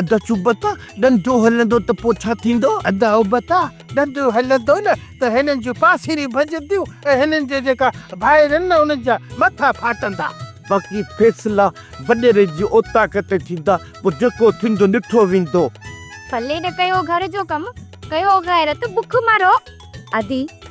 ادا چوبتا ڏنڊو هلندو ته پوء ڇا ٿيندو؟ ادا اوبتا ڏنڊو هلندو نه ته هنن جون پاسيريون ڀڃنديون ۽ هنن جا جيڪا ڀائر آهن نه انهن جا مٿا ڦاٽندا. باقي فيصلا وڏيري جي اوطاق تي ٿيندا پوء جيڪو ٿيندو ڏٺو ويندو. ڦلي نه ڪيو گهر جو ڪم ڪيو غيرت بک مرو. ادي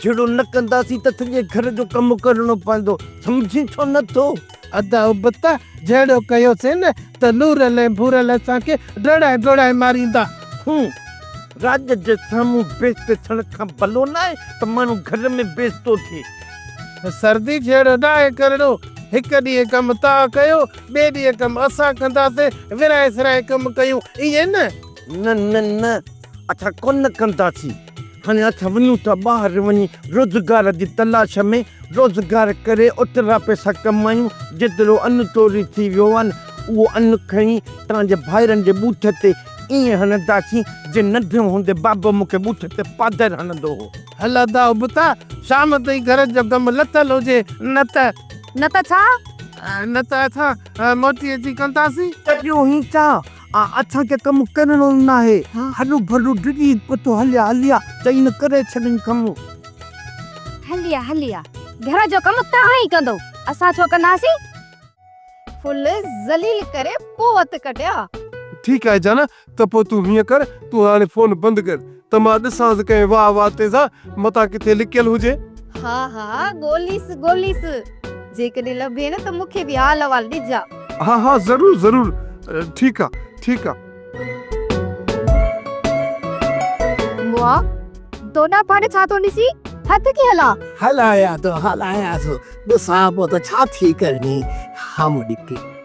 جهيڙو نه ڪنداسين ته سڄي گهر جو ڪم ڪرڻو پوندو، سمجهين ڇو نه ٿو؟ ادا ابتا، جهيڙو ڪيوسين ته لورل ۽ ڀورل اسان کي ڊوڙائي ڊوڙائي ماريندا. هون، راڄ جي سامهون بيست ٿيڻ کان ڀلو ناهي ته ماڻهو گهر ۾ بيستو ٿئي. سردي، جهيڙو ناهي ڪرڻو، هڪ ڏينهن ڪم توهان ڪيو، ٻئي ڏينهن ڪم اسان ڪنداسين، ورهائي سرهائي ڪم ڪيون، ائين نه؟ نه نه نه. اٿا ڪونه ڪنداسين، هاڻي اٿا وڃون ٿا ٻاهر وڃي روزگار جي تلاش ۾ روزگار ڪري اوترا پئسا ڪمايون، جيترو ان چوري ٿي ويو آهن اهو ان کڻي توهان جي ڀائرن جي ٻوٿ تي ائين هڻنداسين جئين ننڍڙو هوندي بابو مون کي ٻوٿ تي پادر هڻندو هو. هل ادا ابتا، شام تائين گهر جو ڪم لٿل هجي نه ته. نه ته ڇا؟ نه ته اٿا موٽي اچي ڪنداسين. ڪريون هي ڇا؟ آ اسان کي ڪم ڪرڻو ناهي. هڏو ڀڏو ڊڄي پتو هليا هليا چئي نه ڪري ڇڏين ڪم. هليا هليا گهر جو ڪم توهان ئي ڪندو اسان ڇو ڪنداسين. ڦل ذليل ڪري پوء وت ڪڍيا. ٺيڪ آهي جانا ته پوء تون هيئن ڪر تون هاڻي فون بند ڪر. ته مان ڏسانس ڪنهن واهه واتي سا متان ڪٿي لڪيل هجي. ها ها ڳوليس ڳوليس جيڪڏهن لڀين ته مون کي به حال احوال ڏجان. ها ها ضرور ضرور ٺيڪ آ ٺيڪ آ. مئا تو ڏانهن پاڙي ڇا ٿو ڏسي هٿ ڪي هلان. هلايان ٿو هلايان ٿو ڏسان پيو ته ڇا ٿي ڪرڻي هام ڏکي.